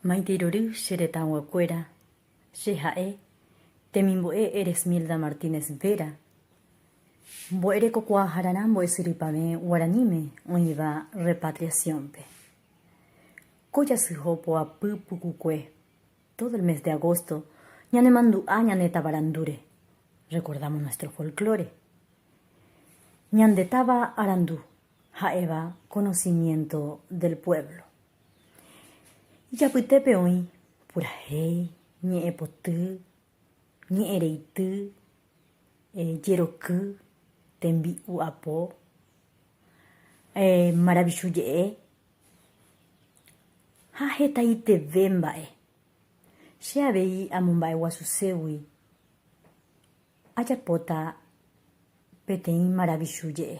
Maitei rory che retãyguakuéra, che ha'e temimbo'e Eresmilda Martínez Vera, mbo'erekokuaahararã mbo'esyrypavẽ guaraníme oĩva repatriación-pe. Ko jasyjo poapy pukukue, todo el mes de agosto ñanemandu'a ñane tavarandúre, recordamos nuestro folclore. Ñande táva arandu, Ha'éva conocimiento del pueblo. Ijapytépe oĩ purahéi, ñe'ẽpoty, ñe'ẽreity, jeroky, tembi'u apo, maravichu je'e ha hetaiteve mba'e. Che avei amomba'eguasuségui ajapóta peteĩ maravichu je'e.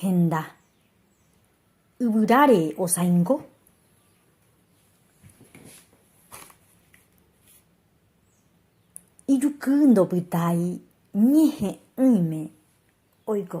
henda yvyráre osãingo, ijuky ndopytái ñehe'ỹime oiko.